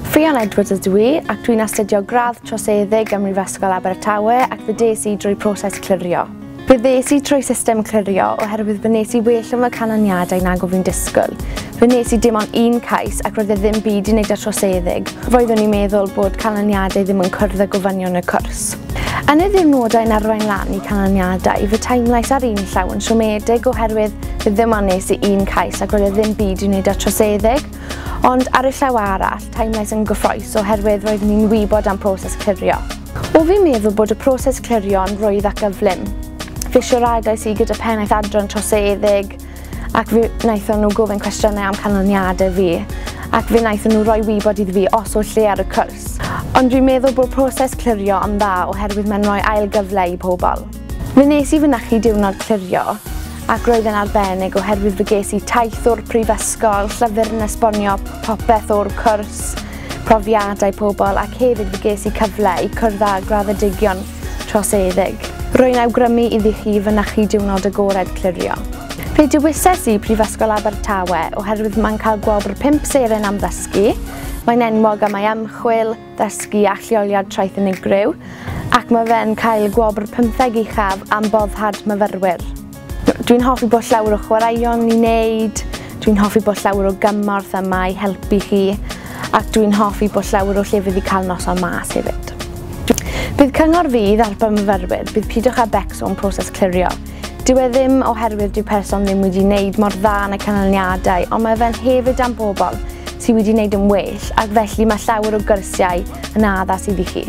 Ffion Edwards ydw i ac dwi'n astudio gradd troseddig ym Mhrifysgol Abertawe ac fe des i drwy proses clirio. Fe ddes i trwy system clirio oherwydd fe nes i well yn fy canlyniadau nag o fi'n disgwyl. Fe nes i dim ond un cais ac roedd e ddim byd i wneud â troseddeg. Roeddwn i'n meddwl bod canlyniadau ddim yn cwrdd â gofynion y cwrs. Yn y ddiwrnodau yn arwain lan i canlyniadau, fe teimlais ar un llaw yn siomedig oherwydd fe ddim ond nes i un cais ac roedd e ddim byd i wneud â troseddeg. Ond ar y llaw arall, teimlais yn gyffroes oherwydd roeddwn i'n wybod am proses clirio. O fi'n meddwl bod y proses clirio'n rwydd ac gyflym. Fe siaradais i gyda pennaeth adran troseddeg ac fe wnaethon nhw gofyn cwestiynau am canlyniadau fi ac fe wnaethon nhw roi wybod iddi fi os oll lle ar y cwrs. Ond dwi'n meddwl bod proses clirio yn dda oherwydd mae'n rhoi ail gyfle i pobl. Fe nes i fynychu diwrnod clirio, ac roedd yn arbennig oherwydd fe ges i taith o'r prifysgol, llyfr yn esbonio popeth o'r cwrs, profiadau pobl ac hefyd fe ges i cyfle i cwrdd â graddedigion troseddug. Rwy'n awgrymu iddi chi fynychu diwrnod agored clirio. Fe dewises i Prifysgol Abertawe oherwydd mae'n cael gwobr pump seren am ddysgu, mae'n enwog am ei ymchwil, Dysgu a Lleoliad Traeth Unigryw, ac mae fe'n cael y gwobr pymtheg uchaf am boddhad myfyrwyr. Dwi'n hoffi bod llawer o chwaraeon i wneud, dwi'n hoffi bod llawer o gymorth yma i helpu chi, ac dwi'n hoffi bod llawer o llefydd i cael noson mas hefyd. Bydd cyngor fydd ar bymyfyrwyr, bydd Pidwch â Becso yn proses clirio. Dyw e ddim oherwydd dyw person ddim wedi wneud mor dda yn y canlyniadau, ond mae fe'n hefyd am bobl sydd wedi wneud yn well, ac felly mae llawer o gyrsiau yn addas iddi chi.